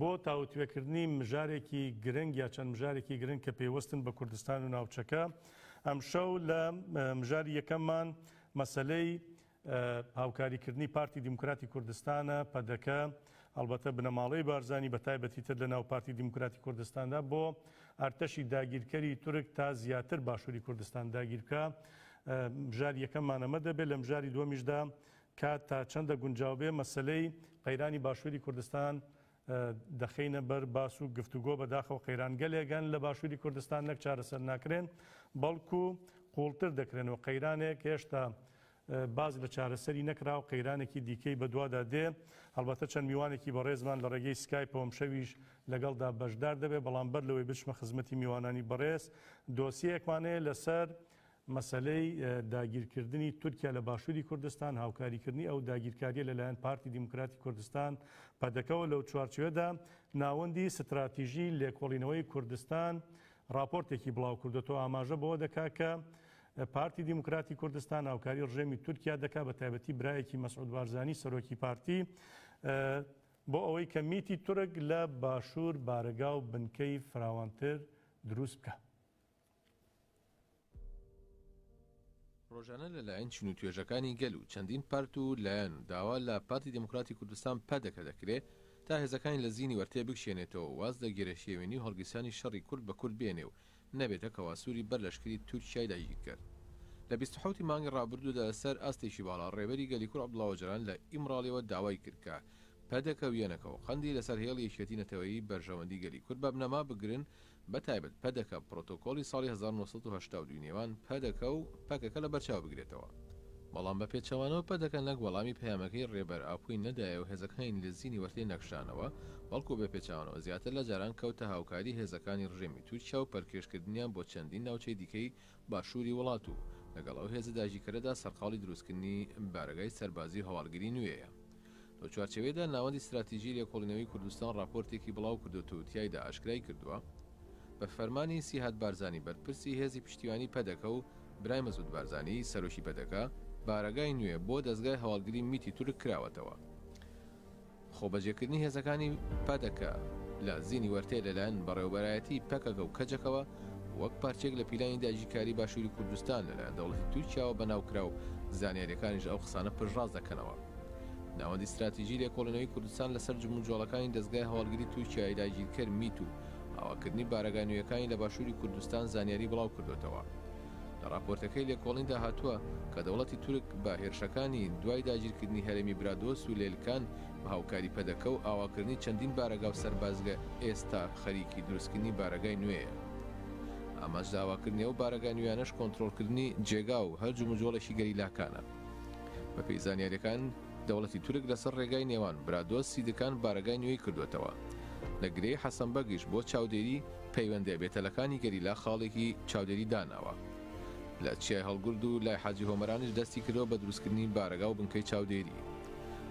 بۆ تاوتوێکردنی مژارێکی گرنگ یا چەند مژارێکی گرنگ کە پەیوەستن بە کوردستان و ناوچەکە، ئەمشەو لە مژاری یەکەممان مەسەلەی هاوکاریکردنی پارتی دیموکراتی کوردستانە، پەدەکە، ئەڵبەتە بنەماڵەی بارزانی، بەتایبەتی تر لەناو پارتی دیموکراتی کوردستاندا بۆ ئەرتەشی داگیرکەری تورک تا زیاتر باشوری کوردستان داگیر بکا، مژاری یەکەممان ئەمە دەبێت، لە مژاری دووەمیشدا کات تا چەندە گونجاو بێ مەسەلەی قەیرانی باشووری کوردستان دەخەینە بەر باس و گفتوگۆ، بەداخەوە قەیرانگەلێک هەن لە باشووری کوردستان نەک چارەسەر ناکرێن بەڵکو قووڵتر دەکرێن و قەیرانێک هێشتا باس لە چارەسەری نەکراو قەیرانێکی دیکەی بەدوادا دێ، هەڵبەتە چەند میوانێکی بەڕێزمان لە ڕێگەی سکایپەوە ئەمشەویش لەگەڵدا بەشدار دەبێ، بەڵام بەر لەوەی بچمە خزمەتی میوانانی بەڕێز دۆسیەیەکمان هەیە لەسەر مەسەلەی داگیرکردنی تورکیا لە باشووری کوردستان، هاوکاریکردنی ئەو داگیرکارییە لەلایەن پارتی دیموکراتی کوردستان، پەدەکەوە، لەو چوارچێوەدا ناوەندی ستراتیژی لێکۆڵینەوەی کوردستان ڕاپۆرتێکی بڵاوکردووەتەوە ئاماژە بەوە دەکات کە پارتی دیموکراتی کوردستان هاوکاری ڕژێمی تورکیا دەکات بە تایبەتی برایەکی مەسعود بارزانی سەرۆکی پارتی بۆ ئەوەی کە میتی تورک لە باشوور بارەگا و بنکەی فراوانتر دروست بکە. ڕۆژانە لە لایەن چین و توێژەکانی گەل و چەندین پارت و لایەن و داوا لە پارتی دیموکراتی کوردستان، پەدەکە، دەکرێ تا هێزەکانی لە زینی وەرتێ بکشێنێتەوە و واز لە گێرەشێوێنی و هەڵگیرسانی شەڕی کورد بە کورد بێنێ و نەبێتە کەواسووری بەر لەشکری تورکیای داگیرکەر. لە بیست و حەوت ی مانگی ڕابردوو دا لە سەر ئاستێکی باڵا ڕێبەری گەلی کورد عەبدوڵا ئۆجەلان لە ئیمڕاڵیەوە داوای کرد کە پەدەکە و یەنەکە و قەندی لە سەر هێڵی یەکیەتی نەتەوەیی بەرژەوەندی گەلی کورد بە بنەما بگرن بەتایبەت پەدەکە پرۆتۆکۆڵی ساڵی هەزار و نۆ سەد و هەشتا و دوو نێوان پەدەکە و پەکەکە لەبەرچاو بگرێتەوە، بەڵام بە پێچەوانەوە پەدەکە نەک وەڵامی پەیامەکەی رێبەر ئاپۆی نەدایە و هێزەکانی لزینی وەرتێ نەکشانەوە، بەڵکو بە پێچەوانەوە زیاتر لە جاران کەوتە هاوکاری هێزەکانی رژێمی تورکیا و پەلکێشکردنیان بۆ چەندین ناوچەی دیکەی باشووری وڵات و لەگەڵ ئەو هێزە داگیرکەرەدا سەرقاڵی دروستکردنی بارەگای سەربازی و هەواڵگری نوێیە. لەو چوارچێوەیەدا ناوەندی ستراتیژی لێکۆڵینەوەی کوردستان ڕاپۆرتێکی بڵاو کردووەتە و تیایدا ئاشکرای کردووە، بە فەرمانی سیهاد بارزانی بەرپرسی هێزی پشتیوانی پەدەکە و برای مەسعود بارزانی سەرۆکی پەدەکە، بارەگای نوێ بۆ دەزگای هەواڵگری میتی تورک کراوەتەوە. خۆبەجێکردنی هێزەکانی پەدەکە لە زینی وەرتێ لەلایەن بەڕێوەبەرایەتی پەکەکە و کەجەکەوە وەک پارچەیەک لە پیلانی داگیرکاری باشوری کوردستان لەلایەن دەوڵەتی تورکیاوە بەناو کرا و زانیاریەکانیش ئەو قسانە پشتڕاست دەکەنەوە. ناوەندی ستراتیجی لێکۆڵینەوەی کوردستان لەسەر جموجۆڵەکانی دەزگای هەواڵگری تورکیای داگیرکەر میت و ئاواکردنی بارەگا نوێیەکانی لە باشووری کوردستان زانیاری بڵاوکردووەتەوە. لە ڕاپۆرتەکەی لێکۆڵیندا هاتووە کە دەوڵەتی تورک بە هێرشەکانی دوای داگیرکردنی هەرێمی برادۆست و لێلکان بە هاوکاری پەدەکە و ئاواکردنی چەندین بارەگا و سەربازگە ئێستا خەریکی دروستکردنی بارەگای نوێیە. ئامانج لە ئاواکردنی ئەو بارەگا نوێیانەش کۆنترۆڵکردنی جێگا و هەر جموجۆڵێکی گەریلاکانە. بەپێی زانیاریەکان، دەوڵەتی تورک لەسەر ڕێگای نێوان برادۆست سیدکان بارەگای نوێی کردووەتەوە لە گرێی حەسەنبەگیش بۆ چاودێری پەیوەندە بێتەلەکانی گەریلا خاڵێکی چاودێری داناوە لە چیای هەڵگورد و لای حاجی هۆمەرانیش دەستی کردەوە بە دروستکردنی بارەگا و بنکەی چاودێری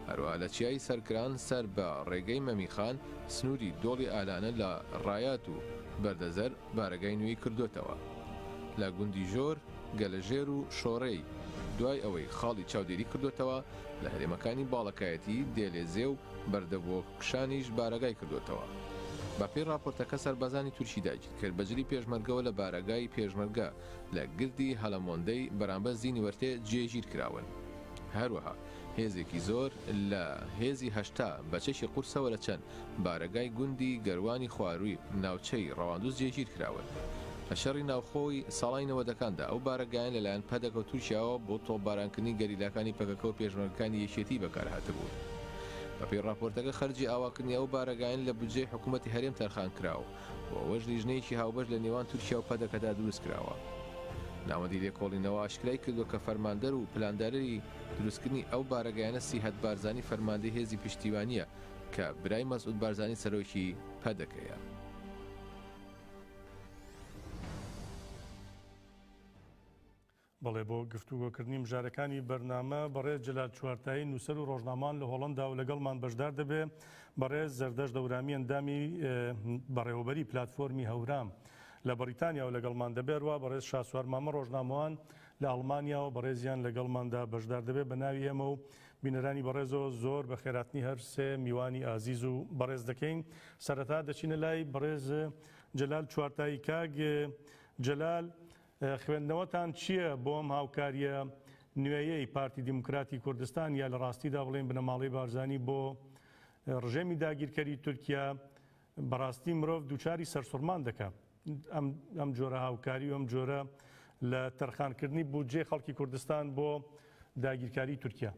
هەروە لە چیای سەرکران سەر بە ڕێگەی مەمیخان سنووری دۆڵی ئالانە لە ڕایات و بەردەزەر بارەگای نوێی کردوێتەوە لە گوندی ژۆر گەلەژێر و شۆرێی، دوای ئەوەی خاڵی چاودێری کردووەتەوە لە هەرێمەکانی باڵەکایەتی، دێلێزێ و بەردەبۆکشانیش بارەگای کردووەتەوە. بەپێی ڕاپۆرتەکە سەربازانی تورکی داگیرکەر بە جلی پێشمەرگەوە لە بارەگای پێشمەرگە لە گردی هەلەمۆندەی بەرامبەر زینیوەرتێ جێگیر کراون. هەروەها هێزێکی زۆر لە هێزی هەشتا بە چەکی قورسەوە لە چەن بارەگای گوندی گەروانی خوارووی ناوچەی ڕەواندوز جێگیر کراون. لە شەڕی ناوخۆی ساڵانی نەوەدەکاندا ئەو بارەگایان لەلایەن پەدەکە و تورکیاوە بۆ تۆپبارانکردنی گەریلاکانی پەکەکە و پێشمەرگەکانی یەکێتیی بەکارهاتبوون. بەپێی ڕاپۆرتەکە خەرجی ئاواکردنی ئەو بارەگایەن لە بودجەی حکوومەتی هەرێم تەرخانکرا و بۆ ئەوەش لیژنەیەکی هاوبەش لە نێوان تورکیا و پەدەکەدا دروستکراوە. ناوەندی لێکۆڵینەوە ئاشکرای کردووە کە فەرماندەر و پلاندارری دروستکردنی ئەو بارەگایانە سیهەت بارزانی فەرماندەی هێزی پشتیوانییە کە برای مەسعود بارزانی سەرۆکی پەدەکەیە. بەڵێ بۆ گفتوگۆکردنی مژارەکانی بەرنامە بەڕێز جلال چوارتایی نووسەر و ڕۆژنامان لە هۆڵندا و لەگەڵمان بەشدار دەبێ بەڕێز زەردەش دەورامی ئەندامی بەڕێوەبەری پلتفۆرمی هەورام لە بەریتانیا و لەگەڵمان دەبێرەوە بەڕێز شاسوار مامە ڕۆژنامەوان لە ئەڵمانیاەوە بەڕێزیان لەگەڵماندا بەشدار دەبێت بە ناوی ئێمە و بینەرانی بەڕێزو زۆر بە خێراتنی هەر سێ میوانی ئازیز و بەڕێز دەکەین سەرەتا دەچینە لای بەڕێز جەلال چوارتایی کاک جەلال خوێندنەوەتان چییە بۆ ئەم هاوکاریە نوێیەی پارتی دیموکراتی کوردستان یا لە ڕاستیدا بڵێن بنەماڵەی بارزانی بۆ ڕژێمی داگیرکەری تورکیا بەڕاستی مرۆڤ دووچاری سەرسوڕمان دەکا ئەم جۆرە هاوکاری و ئەم جۆرە لە تەرخانکردنی بودجەی خەڵکی کوردستان بۆ داگیرکاری تورکیا.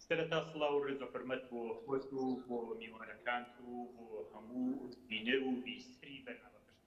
سەرەتا سڵاو و ڕێز و حورمەت بۆ خۆت و بۆ میوانەکانت و بۆ هەموو بینەر و بیسەری بەرنامەکەشت.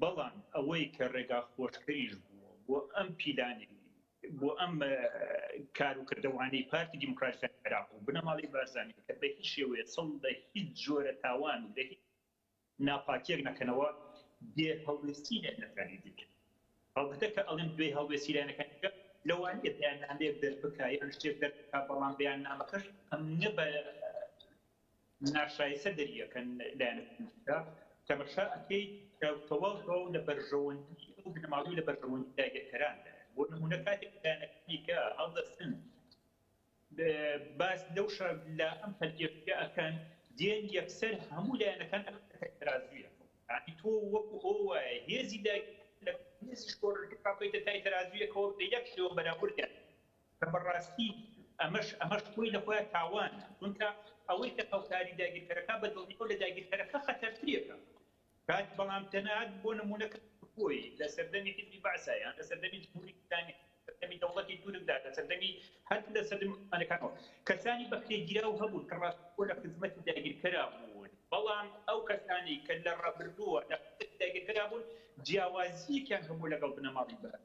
بەڵام ئەوەی کە ڕێگا خۆشکەریش بووە بۆ ئەم پیلانەی بۆ ئەم کار و کردەوانەی پارتی دیموکراتیکان عێراق و بنەماڵەی بارزانی کە بە هیچ شێوەیە چڵ لە هیچ جۆرە تاوان و لە هیچ ناپاکیەک نەکەنەوە بێ هەڵوێستی لایەنەکانی دیکە هەڵبەتە کە ئەڵێم بێ هەڵوێستی لایەنەکانی دیکە لەوانەیە بەیاننامەیەک دەربکا یان شتێک دەربکا بەڵام بەیاننامەکەش ئەمنیە بە ناشایستە دەریەکەن لایەنە پزیشکە کە بە شا ئەکەیت کە تەواو تەواو لە بەرژەوەندی ئەو بنەماڵەی لە بەرژەوەندی داگیرکەران دایە بۆ نمونە کاتێک لایەنەکانی کە هەڵدەستن باس لەو شە لە ئەم پەلکێشیە ئەکەن دێن یەکسەر هەموو لایەنەکان ئەکەن ترازویە ینی تۆ وەکو ئەو وایە هێزی داگیر لە هێزی شۆڕەکە بکەیتە تای ترازویەکەوە بە یەک شێوە بەراوردیان کە بەڕاستی ئەمەش ئەمەش خۆی لە خۆیا تاوانە، چونکە ئەوەی کە هاوکاری داگیرکەرەکە بە دڵنیاو لە داگیرکەرەکە خەتەرترێکە کات بەڵام تەنەات بۆ نموونە کە خۆی لە سەردەمی حیزبی بەعسا یان لە سەردەمی جمهوری ئیسلامی سەردەمی دەوڵەتی تورکدا لە سەردەمی هەر لە سەردەمی عوسمانەکانەوە کەسانی بەکرێگیراو هەبوون کە ڕاست خۆ لە خزمەتی داگیرکەرا بوون بەڵام ئەو کەسانەی کە لە ڕابردووە لە خزمەتی داگیرکەرا بوون جیاوازییەکیان هەبوو لەگەڵ بنەماڵەی بەعس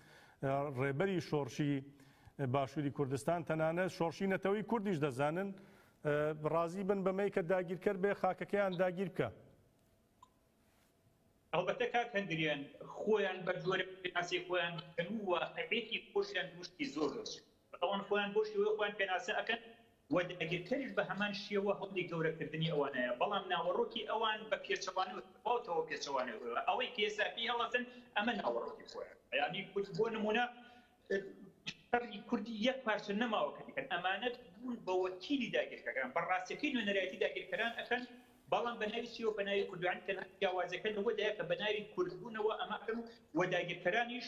ڕێبەری شۆڕشی باشووری کوردستان تەنانەت شۆڕشی نەتەوەی کوردیش دەزانن ڕازی بن بەمەی کە داگیرکەر بێ خاکەکەیان داگیر بکە ئەڵبەتە کاک هەندریان خۆیان بە جۆرە پێناسی خۆیان بکەن و واقعێتی خۆشیان دوشتی زۆر دەچێت ئەوان خۆیان بۆ شێوەی خۆیان پێناسە ئەکەن و داگیرکەریش بە هەمان شێوە هەوڵی گەورە کردنی ئەوانەیە بەڵام ناوەڕۆکی ئەوان بە پێچەوانەوە بە تەواوەتەوە پێچەوانەوە ئەوەی کە ئێستا پێی هەڵەسن ئەمە ناوەڕۆکی خۆیان یانی کورد بۆ نموونە شەڕی کوردی یەک پارچە نەماوە کە دیکەن ئەمانەت بوون بە وەکیلی داگیرکەکان بە ڕاستەکەی نوێنەرایەتی داگیرکەران ئەکەن بەڵام بە ناوی چیەوە بە ناوی کوردانی تەنها جیاوازەکە لەوەدایە کە بە ناوی کوردبوونەوە ئەمە ئەکەن و وە داگیرکەرانیش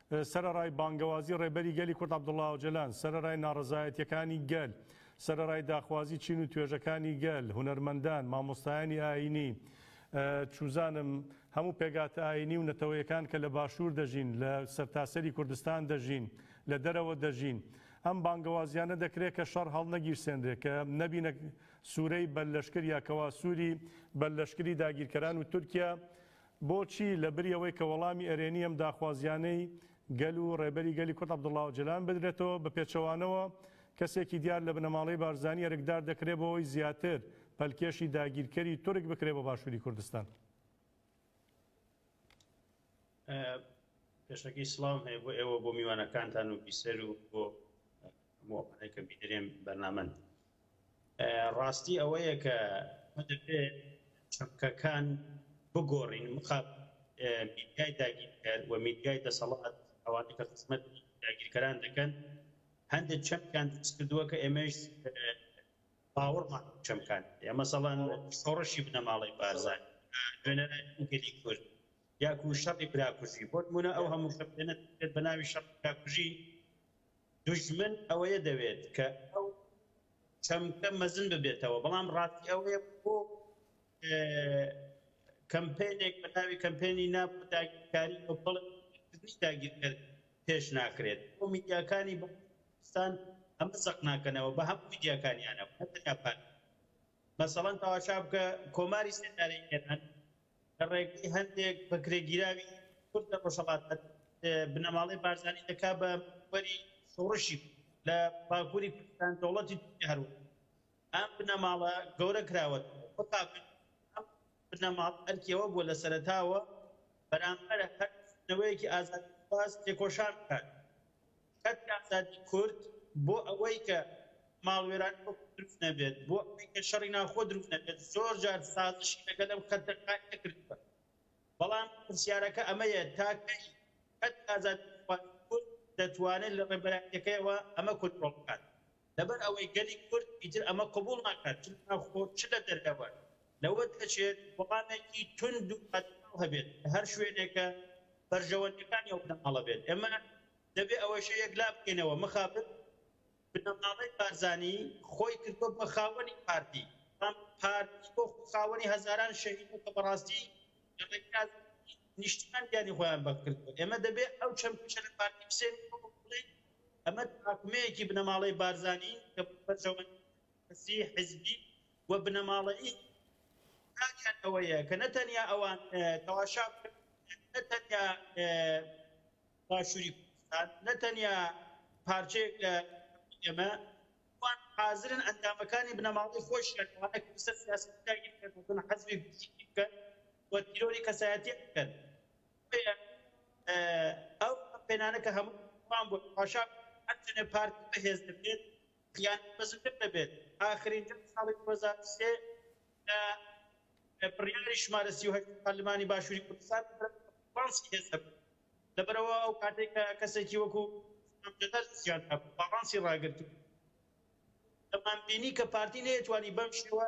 سەرەڕای بانگەوازی ڕێبەری گەلی کورد عەبدوڵا ئۆجەلان، سەرەرای ناڕەزایەتییەکانی گەل، سەرەڕای داخوازی چین و توێژەکانی گەل، هونەرمەندان، مامۆستایانی ئایینی، چوزانم هەموو پێگاتە ئایینی و نەتەوەیەکان کە لە باشوور دەژین، لە سەرتاسەری کوردستان دەژین، لە دەرەوە دەژین، ئەم بانگەوازیانە دەکرێ کە شەڕ هەڵنەگیرسێنرێ، کە نەبینە سوورەی بەر لەشکر یا کەوا سووری بەر لەشکری داگیرکەران و تورکیا بۆچی لەبری ئەوەی کە وەڵامی ئەرێنی ئەم داخوازییانەی گەل و ڕێبەری گەلی کورد عەبدوڵا ئۆجەلان بدرێتەوە، بە پێچەوانەوە کەسێکی دیار لە بنەماڵەی بارزانی ئەرکدار دەکرێت بۆ ئەوەی زیاتر پەلکێشی داگیرکەری تورک بکرێت بۆ باشووری کوردستان؟ پێشەکی سڵاوم هەیە بۆ ئێوە و بۆ میوانەکانتان و بیسەر و بۆ هەموو ئەوانەی کە بینەرێن بەرنامەن ڕاستی ئەوەیە کە ئێمە دەبێ چەمکەکان بگۆڕین مخاب میدیای داگیرکەر و میدیای دەسەڵات ئەوانەی کە خزمەت داگیرکەران دەکەن هەندێک چەمکیان دروست کردووە کە ئێمەش باوەڕمان چەمکان یا مەسەڵەن شۆڕشی بنەماڵەی بارزان نوێنەرانی گەلی کورد یاکو شەڕی براکوژی بۆ نمونە ئەو هەموو شەپێنە بە ناوی شەڕ براکوژی دوژمن ئەوەیە دەوێت کە ئەو چەمکە مەزن ببێتەوە، بەڵام ڕاستی ئەوەیە بۆ کەمپەینێک بە ناوی کەمپەینی نا بۆ داگیرکاری بە بەڵێ بۆ دەرکردنی داگیرکەر پێش ناخرێت. بۆ میدیاکانی بەڵگەنامەدۆستان ئەمە زەق ناکەنەوە، بە هەموو میدیاکانیانەوە نەتەنیا پارتی. مەسەڵەن تەواشا بکە کۆماری سێدارەی ئێران لە ڕێگەی هەندێک بەکرێگیراوی کورد لە ڕۆژهەڵات بنەماڵەی بارزانی دەکات بە وەری شۆڕشی لە باکووری کوردستان دەوڵەتی تورکیا هەروە ئەم بنەماڵە گەورە کراوە بنەماڵ ئەرکیەوە بووە لە سەرەتاوە بەرامبەر هەر نەوەیەکی ئازادیخواز تێکۆشان بکات کەرتی ئازادی کورد بۆ ئەوەی کە ماڵوێرانی وەکو دروست نەبێت، بۆ ئەوەی کە شەڕی ناوخۆ دروست نەبێت، زۆر جار سازشی لەگەل ئەم کەرتە کارتە کردووە. بەڵام پرسیارەکە ئەمەیە تا کەی کەرتی ئازادیخوازی کورد دەتوانێت لە ڕێبەرایەتیەکەیەوە ئەمە کۆنترۆڵ بکات؟ لەبەر ئەوەی گەلی کورد ئیتر ئەمە قبوڵ ناکات چ لەناوخۆ و چ لە دەرەوە لەوە دەچێت وەڵامێکی توند و بەرچاو هەبێت لە هەر شوێنێک کە بەرژەوەندیەکانی ئەو بنەماڵە بێت ئێمە دەبێت ئەوەشە یەکلا بکەینەوە مخابن بنەماڵەی بارزانی خۆی کردوە بە خاوەنی پارتی بەڵام پارتی وەکو خاوەنی هەزاران شەهید و کە بەڕاستی لە ڕێگەی ئازادی نیشتیمان گیانی خۆیان بەخت کردوە ئێمە دەبێت ئەو چەمکەشە لە پارتی بسێنین و بڵێین ئەمە تراکمەیەکی بنەماڵەی بارزانی کە بۆ بەرژەوەندی سیاسی، حزبی و بنەماڵەیی کاریان ئەوەیە کە نە تەنیا ئەوان تەواشا بکەن، نە تەنیا باشووری کوردستان، نە تەنیا پارچەیەک لە ئێمە، ئەوان حازرن ئەندامەکانی بنەماڵەی خۆیشیان لەوانە کە لەسەر سیاسەتی داگیرکەر دەبن، حەزری فیزیکی بکەن و تیرۆری کەسایەتیی بکەن. ئەو کەمپەینانە کە هەموو وان بوون پاشا ئەتەنێ پارتی بەهێز دەبێت یان بەزوتر دەبێت ئاخرین جەنگ ساڵی 2023 بڕیاری شمارە 38 پەرلەمانی باشووری کوردستان باڵانسی هێز دەبێت لەبەرەوە ئەو کاتێک کە کەسێکی وەکو جەدەر زیان هەبوو باڵانسی ڕاگرتو دەمان بینی کە پارتی نەیەتوانی بەم شێوە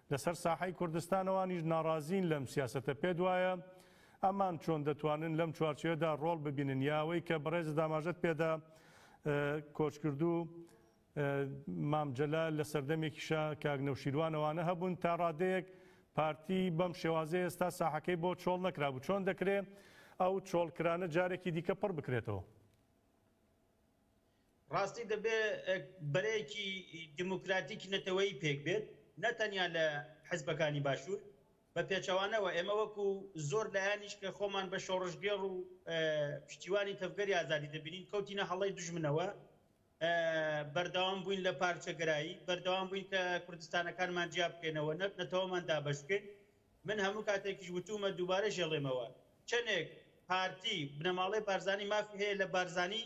لەسەر ساحەی کوردستان ئەوانیش ناڕازین لەم سیاسەتە، پێت وایە ئەمان چۆن دەتوانن لەم چوارچێوەدا ڕۆڵ ببینن یا ئەوەی کە بەڕێزت ئاماژەت پێدا کۆچکردوو مام جەلال لە سەردەمێکیشا کاک نەوشیروان ئەوانە هەبوون تا ڕادەیەک پارتی بەم شێوازەی ئێستا ساحەکەی بۆ چۆڵ نەکرابوو چۆن دەکرێ ئەو چۆڵکرانە جارێکی دیکە پڕ بکرێتەوە؟ ڕاستی دەبێ بەرەیەکی دیموکراتیکی نەتەوەیی پێک بێت نە تەنیا لە حزبەکانی باشوور بە پێچەوانەوە ئێمە وەکو زۆر لایەنیش کە خۆمان بە شۆڕشگێڕ و پشتیوانی تەڤگەری ئازادی دەبینین کەوتینە هەڵەی دوژمنەوە بەردەوام بووین لە پارچەگەرایی بەردەوام بووین کە کوردستانەکانمان جیا بکەینەوە نەت نەتەوەمان دابەش بکەین من هەموو کاتێکیش وتوومە دووبارەیش ئەڵێمەوە چەنێک پارتی بنەماڵەی بارزانی مافی هەیە لە بارزانی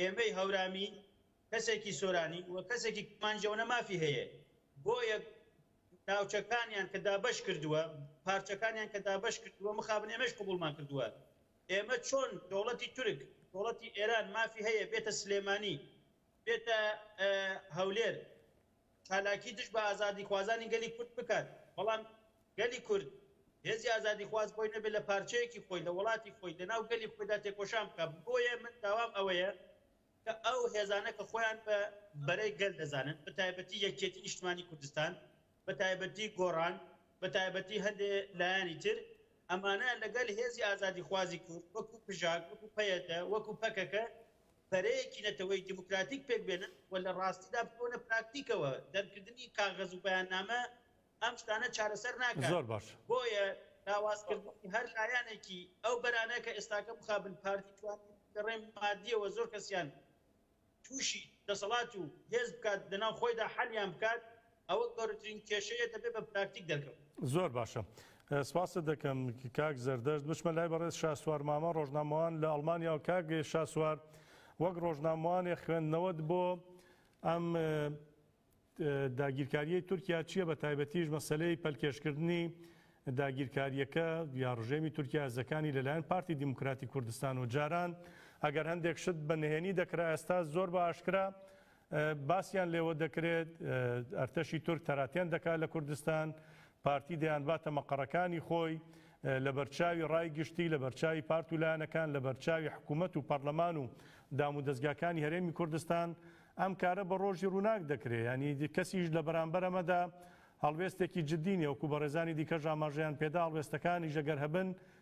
ئێمەی هەورامی کەسێکی سۆرانی و کەسێکی کرمانجەونە مافی هەیە بۆیە ناوچەکانیان کە دابش کردووە پارچەکانیان کە دابش کردووە مخابن ئێمەش قوبولمان کردووە ئێمە چۆن دەوڵەتی تورک دەوڵەتی ئێران مافی هەیە بێتە سلێمانی بێتە هەولێر چالاکی دژ بە ئازادیخوازانی گەلی کورد بکات، بەڵام گەلی کورد، هێزی ئازادیخواز بۆی نەبێت لە پارچەیەکی خۆی، لە وڵاتی خۆی، لە ناو گەلی خۆیدا تێکۆشان بکات. بۆیە من داوام ئەوەیە کە ئەو هێزانە کە خۆیان بە بەرەی گەل دەزانن، بە تایبەتی یەکیەتی نیشتمانی کوردستان، بە تایبەتی گۆڕان، بە تایبەتی هەندێ لایەنی تر، ئەمانە لەگەل هێزی ئازادیخوازی کورد، وەکو پژاک، وەکو پەیەدە، وەکو پەکەکە، بەرەیەکی نەتەوەی دیموکراتیک پێک بێنن و لە ڕاستیدا بچۆنە پراکتیکەوە، دەرکردنی کاغەز و بەیاننامە ئەم شتانە چارەسەر ناکات، بۆیە لاوازکردنی هەر لایەنێکی ئەو بەرانە کە ئێستاکە مخابن پارتی توانی لە ڕێی ماددیەوە زۆر کەسیان تووشی دەسەڵات و هێز بکات لەناو خۆیدا حەلیان بکات، ئەوە گەورەترین کێشەیە دەبێت بە پراکتیک دەرکەوت. زۆر باشە سپاست دەکەم کاک زەردەشت بچمە لای بەڕێز شاسوار مامە ڕۆژنامەوان لە ئەڵمانیاوە کاک شاسوار وەک ڕۆژنامەوانێ خوێندنەوەت بۆ ئەم داگیرکاریەی تورکیا چییە بە تایبەتیش مەسلەی پەلکێشکردنی داگیرکاریەکە یا ڕژێمی تورکیا زەکانی لەلایەن پارتی دیموکراتی کوردستان و جاران ئەگەر هەندێک شت بە نهێنی دەکرا ئێستا زۆر بە ئاشکرا باسیان لێوە دەکرێت ئەرتەشی تورک تەراتێن دەکات لە کوردستان، پارتی دەیانباتە مەقەڕەکانی خۆی، لەبەرچاوی ڕای گشتی، لەبەرچاوی پارت و لایەنەکان، لەبەرچاوی حکوومەت و پەڕلەمان و دامودەزگاکانی هەرێمی کوردستان، ئەم کارە بە ڕۆژی ڕووناک دەکرێت، یانی کەسیش لە بەرامبەر ئەمەدا هەڵوێستێکی جددی نییە، وەکو بەڕێزانی دیکەش ئاماژەیان پێدا هەڵوێستەکانیش ئەگەر هەبن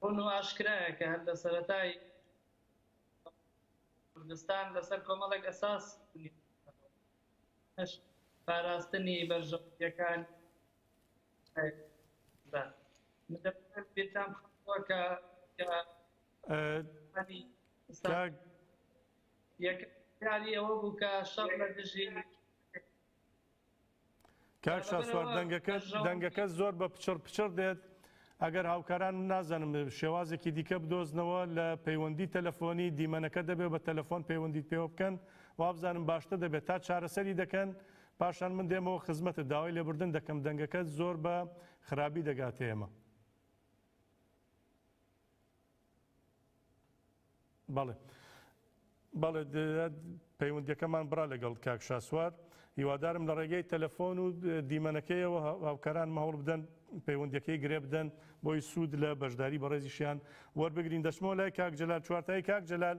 ڕوون و ئاشکرایە کە هەر لە سەرەتای کوردستان لەسەر کۆمەڵێک ئەساس بنیاتنراوە، پاراستنی بەرژەوەندییەکانی کوردستان. من دەمەوێت بیرتان بخەمەوە کە یەکەمجاری ئەوە بوو کە شەڕ لە دژی کاک شاسوار دەنگەکەت دەنگەکە زۆر بە پچڕ پچڕ دێت ئەگەر هاوکاران نازانم شێوازێکی دیکە بدۆزنەوە لە پەیوەندی تەلەفۆنی دیمەنەکە دەبێت بە تەلەفۆن پەیوەندیت پێوە بکەن وابزانم باشتە دەبێت تا چارەسەری دەکەن پاشان من دێمەوە خزمەتە داوای لێبردن دەکەم دەنگەکە زۆر بە خراپی دەگاتێمە. بەڵێ بەڵێ پەیوەندەکەمان بڕا لەگەڵ کاک شاسوار هیوادارم لە ڕێگەی تەلەفۆن و دیمەنەکەیەوە هاوکاران مەهڵ بدەن پەیوەندەکەی گرێ بدەن بۆی سوود لە بەشداری بەڕێزیشیان وەربگرین دەچمەوە لای کاک جلال چوارتایی کاک جلال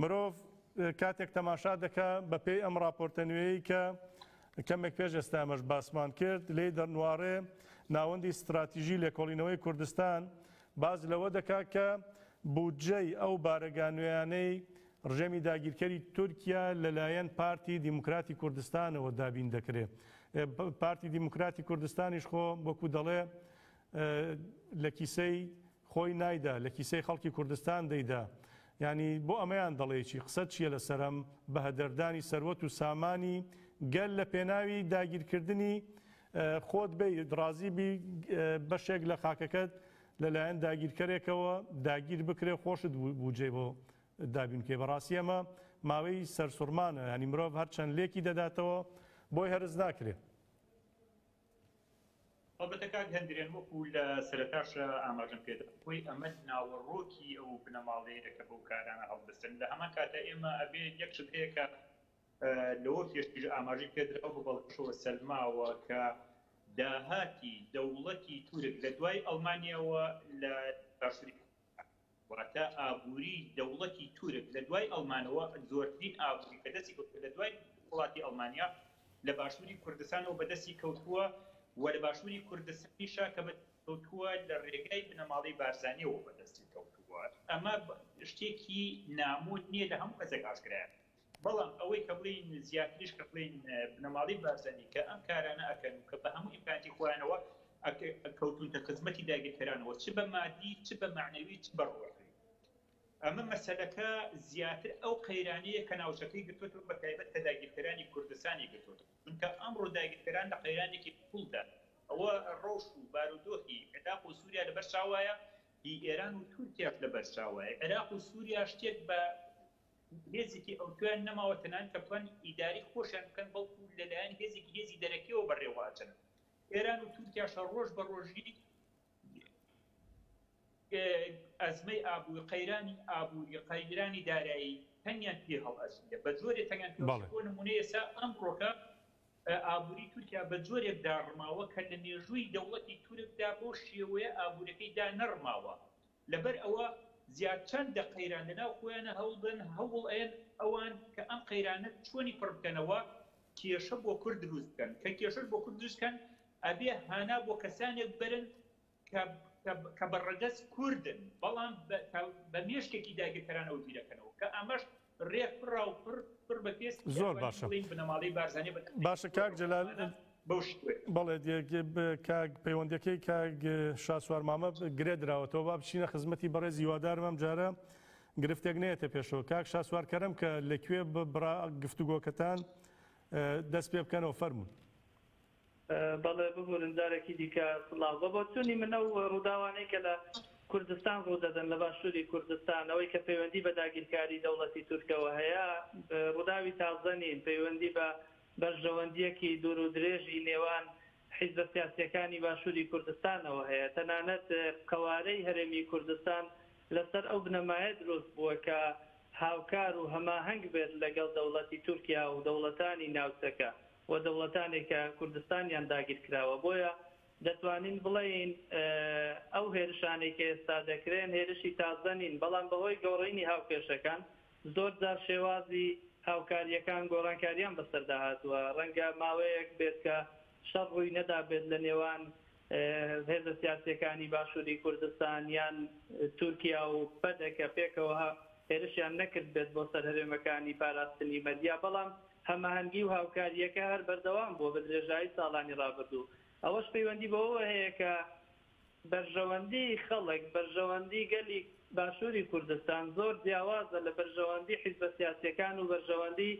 مرۆڤ کاتێک تەماشا دەکا بە پێی ئەم ڕاپۆرتە نوێیەی کە کەمێک پێش ئێستا ئێمەش باسمان کرد لێی دەرنواڕێ ناوەندی ستراتیژی لێکۆڵینەوەی کوردستان باس لەوە دەکا کە بودجەی ئەو بارەگا نوێیانەی ڕژێمی داگیرکەری تورکیا لەلایەن پارتی دیموکراتی کوردستانەوە دابین دەکرێ پارتی دیموکراتی کوردستانیش خۆ وەکو دەڵێ لە کیسەی خۆی نایدا لە کیسەی خەڵکی کوردستان دەیدا یانی بۆ ئەمەیان دەڵێی چی قسەت چیە لەسەرم بەهەدەردانی سەروەت و سامانی گەل لە پێناوی داگیرکردنی خۆت بێی ڕازی بی بەشێک لە خاکەکەت لەلایەن داگیرکەرێکەوە داگیر بکرێ خۆشت بوجێ بۆ دابین بکەی بەڕاستی ئەمە ماوەی سەرسوڕمانە ینی مرۆڤ هەرچەند لێکی دەداتەوە بۆی هەرز ناکرێت هەڵبەتە کاک هەندرێن وەکو لە سەرەتاش ئاماژەم پێدا بۆی ئەمە ناوەڕۆکی ئەو بنەماڵەیە کە بەو کارانە هەڵدەستن لە هەمان کاتە ئێمە ئەبێ یەک شت هەیە کە لەوە پێشتر ئاماژەی پێدراوە بە بەڵگەشەوە سەلماوە کە داهاتی دەوڵەتی تورک لە دوای ئەڵمانیاوە لە باشووری واتە ئابووری دەوڵەتی تورک لە دوای ئەڵمانەوە زۆرترین ئابووری کە دەستی کەوتووە لە دوای دەسەڵاتی ئەڵمانیا لە باشووری کوردستانەوە بە دەستی کەوتووە و لە باشووری کوردستانیشە کە بە کەوتووە لە ڕێگای بنەماڵەی بارزانیەوە بە دەستی کەوتووە ئەمە شتێکی نامۆ نییە لە هەموو کەسێک ئاشکرایە بەڵام ئەوەی کە بڵێین زیاتریش کە بڵێین بنەماڵەی بارزانی کە ئەم کارانە ئەکەن و کە بە هەموو ئیمکاناتی خۆیانەوە کەوتونتە خزمەتی داگیرکەرانەوە چ بە مادی چ بە مەعنەوی چ بە ڕوحی ئەمە مەسەلەکە زیاتر ئەو قەیرانەیە کە ناوچەکەی گرتوتەوە بە تایبەت کە داگیرکەرانی کوردستانی گرتوتەوە چونکە ئەمڕۆ داگیرکەران لە قەیرانێکی قوڵدا ئەوە ڕەوش و بارودۆخی عێراق و سووریا لەبەر چاوایە هی ئێران و تورکیاش لەبەر چاوایە عێراق و سووریا شتێک بە هێزێکی ئەوتۆیان نەماوە تەنانەت کە بتوان ئیدارەی خۆشیان بکەن بەڵکو لەلایەن هێزێکی هێزی دەرەکیەوە بەڕێوە ئەچن ئێران و تورکیاش هەر ڕۆژ بە ڕۆژی ئەزمەی ئابووی قەیرانی ئابووری قەیرانی دارایی تەنگیان پێ هەڵ ئەسیە بە جۆرێ تەنگیان پێڵ بۆ نمونە ئێستا ئەم ڕۆکە ئابووری تورکیا بە جۆرێک داڕماوە کە لە مێژووی دەوڵەتی تورکدا بۆ شێوەیە ئابوورەکەی دا نەڕماوە لەبەر ئەوە زیاد چەند دە قەیران لەناو خۆیانا هەوڵدەن هەوڵ ئەیەن ئەوان کە ئەم قەیرانە چۆنی پڕ بکەنەوە کێشە بۆ کورد دروست بکەن کە کێشەش بۆ کورد دروست کەن ئەبێ هانا بۆ کەسانێک بەرن کە کە بە ڕەگەز کوردن بەڵام بە مێشکێکی داگیرکەرانەوە بیرەکەنەوە کە ئەمەش رێک پڕا و پڕ پڕ بە پێست بێ زۆر ئەتوانین باشە بڵێین بنەماڵەی بارزانیە بە تەنهایی باشە کاک سوورەو جەلال قەهرەمانە بەو شێوەیە. بەڵێ دێک ب کاک پەیوەندیەکەی کاک شاسوار مامە گرێ دراوەتەوە با بچینە خزمەتی بەڕێز هیوادارم ئەم جارە گرفتێک نەیەتە پێشەوە کاک شاسوار کەرەم کە لە کوێ ب بڕا گفتوگۆکەتان دەست پێ بکەنەوە فەرموون. بەڵێ ببورن جارێکی دیکە سڵاو. بە بۆچوونی من ئەو ڕووداوانەی کە لە کوردستان ڕوو دەدەن، لە باشووری کوردستان، ئەوەی کە پەیوەندی بە داگیرکاری دەوڵەتی تورکەوە هەیە، ڕووداوی تازە نین، پەیوەندی بە بەرژەوەندییەکی دوور و درێژی نێوان حیزبە سیاسییەکانی باشووری کوردستانەوە هەیە. تەنانەت قەوارەی هەرێمی کوردستان لەسەر ئەو بنەمایە دروست بووە کە هاوکار و هەماهەنگ بێت لەگەڵ دەوڵەتی تورکیا و دەوڵەتانی ناوچەکە. و دەوڵەتانێک کە کوردستانیان داگیرکراوە، بۆیە دەتوانین بڵێین ئەو هێرشانەی کە ئێستا دەکرێن هێرشی تازە نین، بەڵام بەهۆی گۆڕینی هاوکێشەکان زۆرجار شێوازی هاوکارییەکان گۆڕانکارییان بەسەردا هاتووە، ڕەنگە ماوەیەک بێت کە شەڕ ڕووی نەدابێت لە نێوان هێزە سیاسییەکانی باشووری کوردستان یان تورکیا و پەدەکە پێکەوە هێرشیان نەکردبێت بۆ سەر هەرێمەکانی پاراستنی مەدیا، بەڵام هەماهەنگی و هاوکارییەکە هەر بەردەوام بووە بە درێژایی ساڵانی ڕابردوو. ئەوەش پەیوەندی بەوەوە هەیە کە بەرژەوەندیی خەڵک، بەرژەوەندیی گەلی باشووری کوردستان زۆر جیاوازە لە بەرژەوەندیی حیزبە سیاسییەکان و بەرژەوەندیی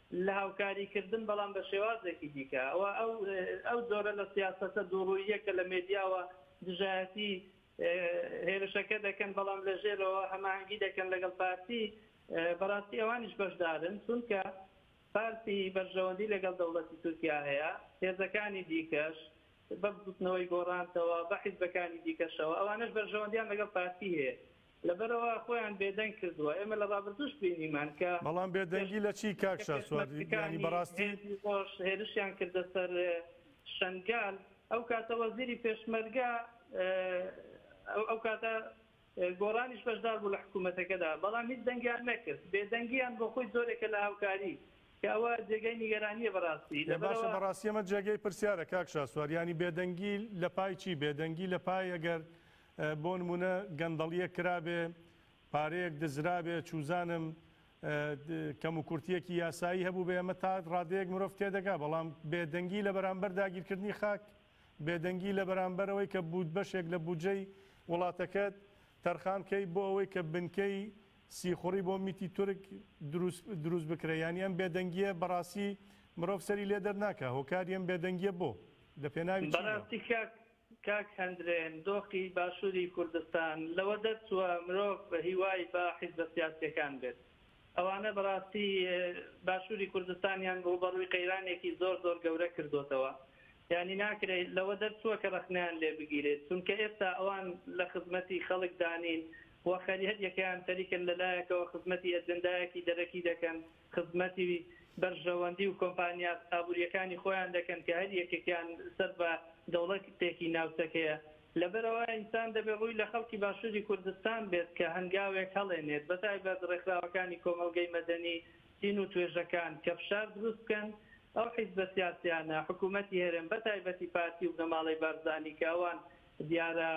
لە هاوکاریکردن، بەڵام بە شێوازێکی دیکە. ئەوە ئەو جۆرە لە سیاسەتە دووڕووییە کە لە مێدیاوە دژایەتی هێرشەکە دەکەن، بەڵام لە ژێرەوە هەماهەنگی دەکەن لەگەڵ پارتی. بەڕاستی ئەوانیش بەشدارن، چونکە پارتی بەرژەوەندی لەگەڵ دەوڵەتی تورکیا هەیە، هێزەکانی دیکەش، بە بزووتنەوەی گۆڕانتەوە، بە حیزبەکانی دیکەشەوە، ئەوانەش بەرژەوەندیان لەگەڵ پارتی هەیە. لەبەرئەوە خۆیان بێدەنگ کردووە ئێمە لە ڕابردووش بینیمان کە بەڵام بێدەنگی لە چی کاک شاسوار یانی بە ڕاستی؟ ۆش هێرشیان کردە سەر شەنگال ئەو کاتە وەزیری پێشمەرگە ئەو کاتە گۆڕانیش بەشدار بوو لە حکوومەتەکەدا بەڵام هیچ دەنگیان نەکرد بێدەنگیان بۆ خۆی زۆرێکە لە هاوکاری کە ئەوە جێگەی نیگەرانیە بەڕاستی لە باشە بەڕاستیەمە جێگەی پرسیارە کاک شاسوار یانی بێدەنگی لە پای چی بێدەنگی لە پای ئەگەر بۆ نموونە گەندەڵییەک کرابێ، پارەیەک دزرابێ، چووزانم کەموکورتییەکی یاسایی هەبووبێ، ئەمە تا ڕادەیەک مرۆڤ تێدەگا، بەڵام بێدەنگی لە بەرامبەر داگیرکردنی خاک، بێدەنگی لە بەرامبەر ئەوەی کە بوود بەشێک لە بودجەی وڵاتەکەت تەرخان بکەی بۆ ئەوەی کە بنکەی سیخوڕی بۆ میتی تورک دروست دروست بکرێ، یانی ئەم بێدەنگییە بەڕاستی مرۆڤ سەری لێ دەرناکا، هۆکاری ئەم بێدەنگییە بۆ؟ لە پێناوی چی بووە؟ بەڕاستی کاک کاک هەندرێن دۆخی باشوری کوردستان لەوە دەرچووە مرۆڤ هیوای بە حیزبە سیاسیەکان بێت ئەوانە بەراستی باشوری کوردستانیان ڕووبەڕووی قەیرانێکی زۆر زۆر گەورە کردۆتەوە یانی ناکرێ لەوە دەرچووە کە ڕەخنەیان لێ بگیرێت چونکە ئێستا ئەوان لە خزمەتی خەڵک دانین وە خەریەکیان خەریکن لەلایەکەوە خزمەتی ئەجندایەکی دەرەکی دەکەن خزمەتی بەرژەوەندی و کۆمپانیا ئابوورییەکانی خۆیان دەکەن کە هەر یەکێکیان سەر بە دەوڵەتێکی ناوچەکەیە. لەبەرئەوە ئینسان دەبێت ڕووی لە خەڵکی باشووری کوردستان بێت کە هەنگاوێک هەڵێنێت، بەتایبەت ڕێکخراوەکانی کۆمەڵگەی مەدەنی، دین و توێژەکان کە فشار دروست بکەن ئەو حیزبە سیاسییانە، حکوومەتی هەرێم بەتایبەتی پارتی و بنەماڵەی بارزانی کە ئەوان دیارە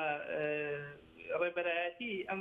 ڕێبەرایەتیی ئەم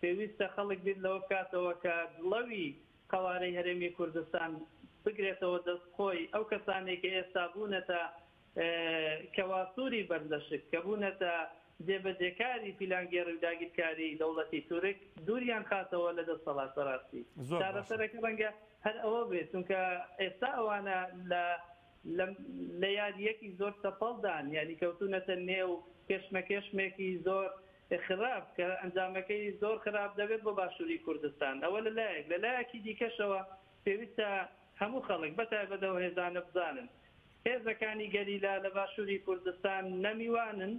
پێویستە خەڵک بیر لەوە بکاتەوە کە دڵەوی قەوارەی هەرێمی کوردستان بگرێتەوە دەست خۆی، ئەو کەسانەی کە ئێستا بوونەتە کەواسووری بەردەشک، کە بوونەتە جێبەجێکاری پیلانگێڕی و داگیرکاری دەوڵەتی تورک، دووریان خاتەوە لە دەستەڵات بەراستی چارەسەرەکە رەنگە هەر ئەوە بێت، چونکە ئێستا ئەوانە لە لە یارییەکی زۆر چەپەڵدان، یانی کەوتوونەتە نێو کێشمەکێشمێکی زۆر. خراپ کە ئەنجامەکەی زۆر خراپ دەبێت بۆ باشووری کوردستان. ئەوە لە لایەک، لە لایەکی دیکەشەوە پێویستە هەموو خەڵک، بە تایبەت ئەو هێزانە بزانن هێزەکانی گەریلا لە باشووری کوردستان نە میوانن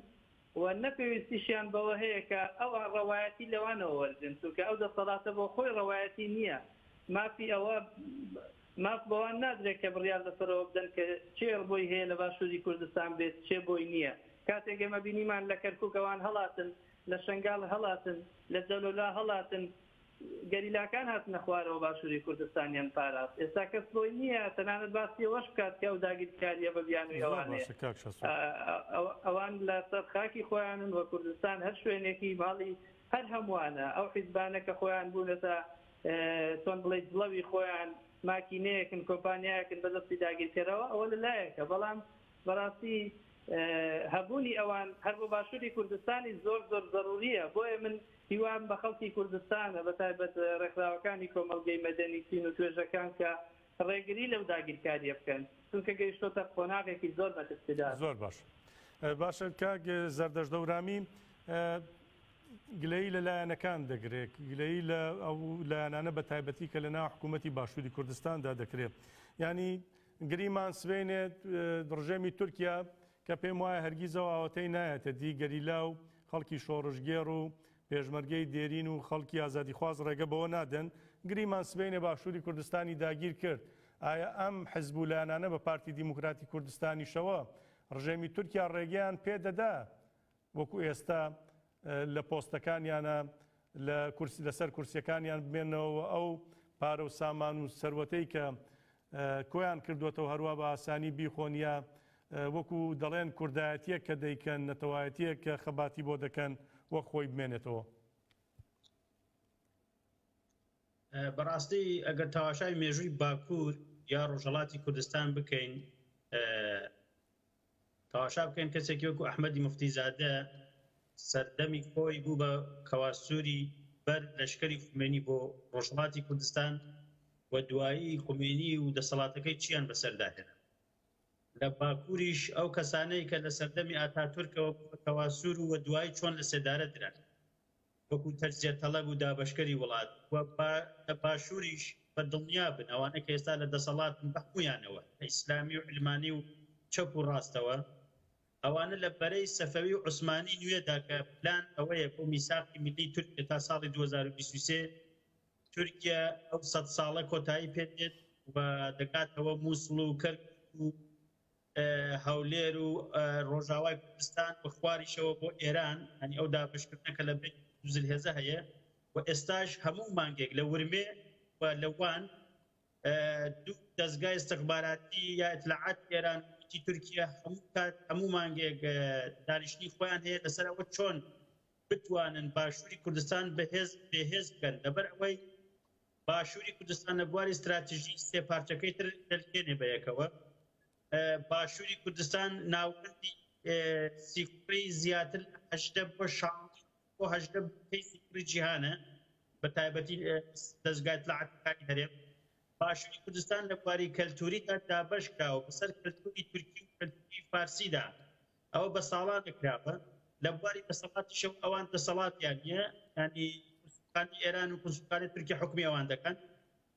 و نە پێویستیشیان بەوە هەیە کە ئەوان ڕەوایەتی لەوانەوە وەرگرن، چونکە ئەو دەسەڵاتە بۆ خۆی ڕەوایەتی نییە مافی ئەوە ماف بەوان نادرێت کە بڕیار لەسەرەوە بدەن کە کێ ڕبۆی هەیە لە باشووری کوردستان بێت کێ بۆی نییە. کاتێک ئێمە بینیمان لە کەرکووک ئەوان هەڵاتن، لە شەنگال هەڵاتن، لە جەلەولا هەڵاتن، گەریلاکان هاتنە خوارەوە باشووری کوردستانیان پاراست. ئێستا کەس بۆی نییە تەنانەت باسی ئەوەش بکات کە ئەو داگیرکارییە بە بیانووی ئەوانەیە. ئەوان لەسەر خاکی خۆیانن و کوردستان هەر شوێنێکی ماڵی هەر هەمووانە. ئەو حیزبانە کە خۆیان بوونەتە چۆن بڵێی جڵەوی خۆیان ماکینەیەکن کۆمپانیایەکن بەدەستی داگیرکەرەوە ئەوە لەلایەکە بەڵام بەڕاستی هەبوونی ئەوان هەر بۆ باشووری کوردستانی زۆر زۆر زەروریە بۆیە من هیوام بە خەڵکی کوردستانە بە تایبەت ڕێکخراوەکانی کۆمەلگەی مەدەنی چین و توێژەکان کە ڕێگری لەو داگیرکاریە بکەن چونکە گەیشتۆتە قۆناغێکی زۆر مەترسیدار زۆر باش باشە کاک زەردەش دەورامی گلەیی لە لایەنەکان دەگرێت، گلەیی لە ئەو لایەنانە بە تایبەتی کە لەناو حکوومەتی باشووری کوردستاندا دەکرێت. یانی گریمان سبەینێت ڕژێمی تورکیا کە پێم وایە هەرگیز ئەو ئاوەتەی نایەتە دی، گەریلا و خەڵکی شۆڕشگێڕ و پێشمەرگەی دێرین و خەڵکی ئازادیخواز ڕێگە بەوە نادەن. گریمان سبەینێ باشووری کوردستانی داگیر کرد. ئایا ئەم حزب و لایەنانە بە پارتی دیموکراتی کوردستانیشەوە ڕژێمی تورکیا ڕێگەیان پێ دەدا وەکو ئێستا لە پۆستەکانیانە لە کورسی لەسەر کورسیەکانیان بمێنەوە ئەو پارە و سامان و سەروەتەی کە کۆیان کردوێتەوە هەروە بە ئاسانی بیخۆن یا وەکو دەڵێن کوردایەتیەک کە دەیکەن نەتەوایەتیەک کە خەباتی بۆ دەکەن وەک خۆی بمێنێتەوە. بەڕاستی ئەگەر تەواشای مێژووی باکوور یا ڕۆژهڵاتی کوردستان بکەین تەماشا بکەن کەسێکی وەکو ئەحمەدی موفتیزادە سەردەمی خۆی بوو بە کەواسوری بەر لەشکری خومێنی بۆ ڕۆژهەڵاتی کوردستان و دوایی خومێنی و دەسەڵاتەکەی چیان بەسەردا هێنا لە باکوریش ئەو کەسانەی کە لە سەردەمی ئاتاتورکەوە بوو بە کەواسور و دوایی چۆن لە سێدارە دران. وەکو تەجزیە تەڵەب و دابەشکەری وڵات و با لە باشووریش بە دڵنیا بن ئەوانەی کە ئێستا لە دەسەڵاتن بە هەموویانەوە لە ئیسلامی و علمانی و چەپ و ڕاستەوە ئەوانە لە بەرەی سەفەوی و عوسمانی نوێدا کە پلان ئەوەیە بۆ میساقی میللی تورکیا تا ساڵی دوو هەزار و بیست و سێ تورکیا ئەو سەد ساڵە کۆتایی پێ دێت و دەگاتەوە مووسڵ و کەرکوک و هەولێر و ڕۆژاوای کوردستان و خواریشەوە بۆ ئێران هەنی ئەو دابشکردنە کە لە بێ زلهێزە هەیە و ئێستاش هەموو مانگێک لە ورمێ و لەوان دوو دەستگای استخباراتی یا اطلاعات ئێران وتی تورکیا هەموو کات هەموو مانگێک دانیشتنی خۆیان هەیە لەسەر ئەوە چۆن بتوانن باشووری کوردستان بەهێز بەهێز بکەن لەبەر ئەوەی باشوری کوردستان لە بواری ستراتژی سێ پارچەکەی تر دەلکێنێ بە یەکەوە. باشوری کوردستان ناوەندی سیکوڕی زیاتر لە هەژدە بۆ شانزە بۆ هەژدە بنکەی سیکوڕی جیهانە، بە تایبەتی دەزگای ئیتلاعاتیەکانی هەرێم. باشوری کوردستان لە بواری کەلتوریدا دابەش کراوە بە سەر کەلتوری تورکی و کەلتوری فارسیدا. ئەوە بە ساڵانێک کراوە لە بواری دەسەڵاتیشەوە ئەوان دەسەڵاتیان نیە ینی کورسوخانی ئێران و کورسوخانی تورکیا حکومی ئەوان دەکەن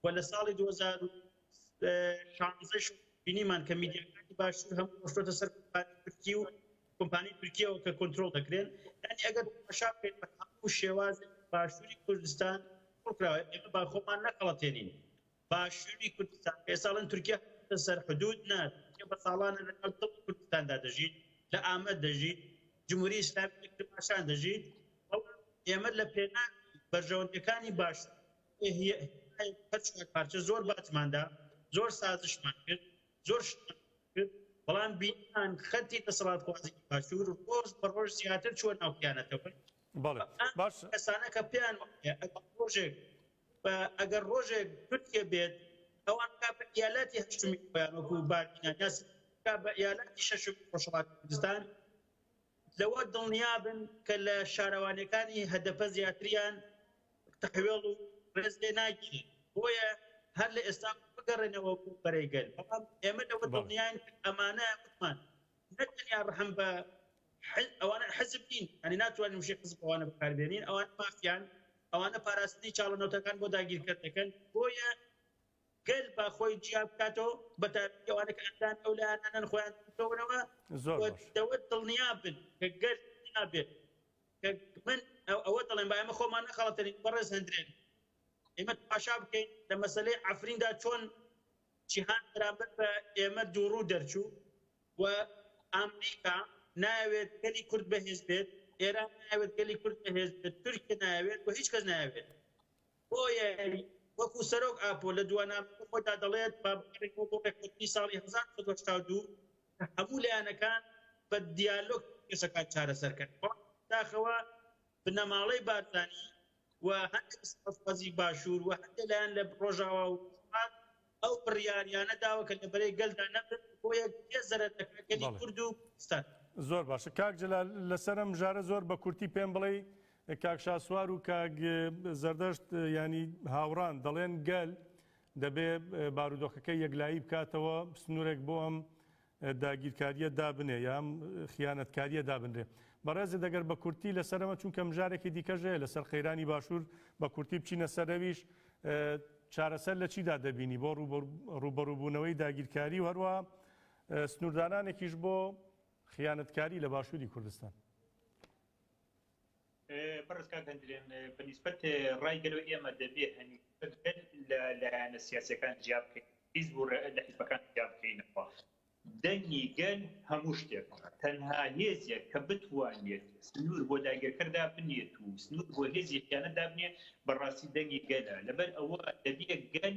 و لە ساڵی 2016 بینیمان کە میدیاکانی باشوور هەموو ڕۆشتۆتە سەر کۆمپانی تورکی و کۆمپانی تورکیەوە کە کۆنتترۆل دەکرێن ینی ئەگەر تماشا بکەین بە هەموو شێوازێک باشووری کوردستان کراوە ئێمە با خۆمان نەخەڵەتێنین باشووری کوردستان پێ ساڵن تورکیا هاتووتە سەر حدوود نا تورکیا بە ساڵانە لە ناو دڵی کوردستاندا دەژیت لە ئامەد دەژیت جمهوری ئیسلامی لە کرماشان دەژیت بەڵام ئێمە لە پێناو بەرژەوەندیەکانی باشوور ئێ هی هەر چوار پارچە زۆر باجماندا زۆر سازشمان کرد زۆر شتمان کرد بەڵام بینیمان خەتی دەسەڵاتخوازی باشوور ڕۆژ بە ڕۆژ زیاتر چووە ناو خیانەتەوە بەڵێ باشە کەسانە کە پێیان وایە ئەگەر ڕۆژێک و ئەگەر ڕۆژێک تورکیە بێت ئەوان کا بە ئیالاتی هەشتمی خۆیان وەکو بادینان یا کا بە ئیالاتی شەشمی ڕۆژهەڵاتی کوردستان لەوە دڵنیابن کە لە شارەوانەکانی هەدەپە زیاتریان تەحوێڵ و ڕێز لێ ناگیرێت بۆیە هەر لە ئێستا بگەڕێنەوە بۆ بەرەی گەل بەڵام ئێمە لەوە دڵنیان ئەمانە وتمان نەتەنیا ڕحم بە حیز ئەوانە حیزب نین یانی ناتوانین وشەی حیزب ئەوانە بەکار بێنین ئەوانە مافیان ئەوانە پاراستنی چاڵە نەوتەکان بۆ داگیرکەر دەکەن بۆیە گەل با خۆی جیا بکاتەوە بە تایبەتی ئەوانە کە ئەندان ئەو لایەنانەن خۆیان بکەونەوە زۆر و باش دەوە دڵنیا بن کە گەل دڵنیا بێت کە من ئەو- ئەوە دەڵێم با ئێمە خۆمان نەخەڵەتێنین بەڕێز هەندرێن ئێمە تماشا بکەین لە مەسەلەی عەفریندا چۆن جیهان بەرامبەر بە ئێمە دووڕوو دەرچوو و ئامریکا نایەوێت گەلی کورد بەهێز بێت، ئێران نایەوێت گەلی کورد بەهێز بێت، تورکیە نایەوێت و هیچ کەس نایەوێت. بۆیە وەکوو سەرۆک ئاپۆ لە دووانامەکەی خۆیدا دەڵێت با بگەڕێینەوە بۆ ڕێککەوتنی ساڵی هەزار و نۆ سەد و هەشتا و دوو کە هەموو لایەنەکان بە دیالۆگ کێشەکان چارەسەر کەن. بەڵام بەداخەوە بنەماڵەی بارزانی، و هەندێ لە سەربازی باشوور و هەندێ لایەن لە ڕۆژاوا و ڕۆژهەڵات ئەو بڕیاریانە داوە کە لە بەرەی گەلدا نەبن، بۆ یە گەلێ زەرەر دەکا گەلی بەڵێ. کورد و کوردستان. زۆر باشە کاک جەلال لەسەر ئەم بژارە زۆر بە کورتی پێم بڵێی کاک شاسوار و کاک زەردەشت یانی هاوڕان دەڵێن گەل دەبێ بارودۆخەکەی یەکلایی بکاتەوە سنورێک بۆ ئەم داگیرکاریە دابنێ یام خیانەتکاریە دابنرێ بەڕێزت ئەگەر بە کورتی لەسەر ئەمە چونکە مژارێکی دیکەش هەیە لەسەر قەیرانی باشوور بە کورتی بچینە سەر ئەویش چارەسەر لە چیدا دەبینی بۆ ڕوبەڕوبوونەوەی داگیرکاری و هەروە سنووردانانێکیش بۆ خیانەتکاری لە باشووری کوردستان بەڕێز کاک هەندرێن بە نیسبەت ڕای گەل و ئێمە دەبێ هەمیشە گەل لە لایەنە سیاسیەکان جیا بکەین حیزب و لە حیزبەکان جیا بکەینەوە دەنگی گەل هەموو شتێک تەنها هێزێک کە بتوانێت سنوور بۆ داگیرکەردا بنێت و سنوور بۆ هێزی خیانە دابنێ بەڕاستی دەنگی گەلە لەبەر ئەوە دەبێت گەل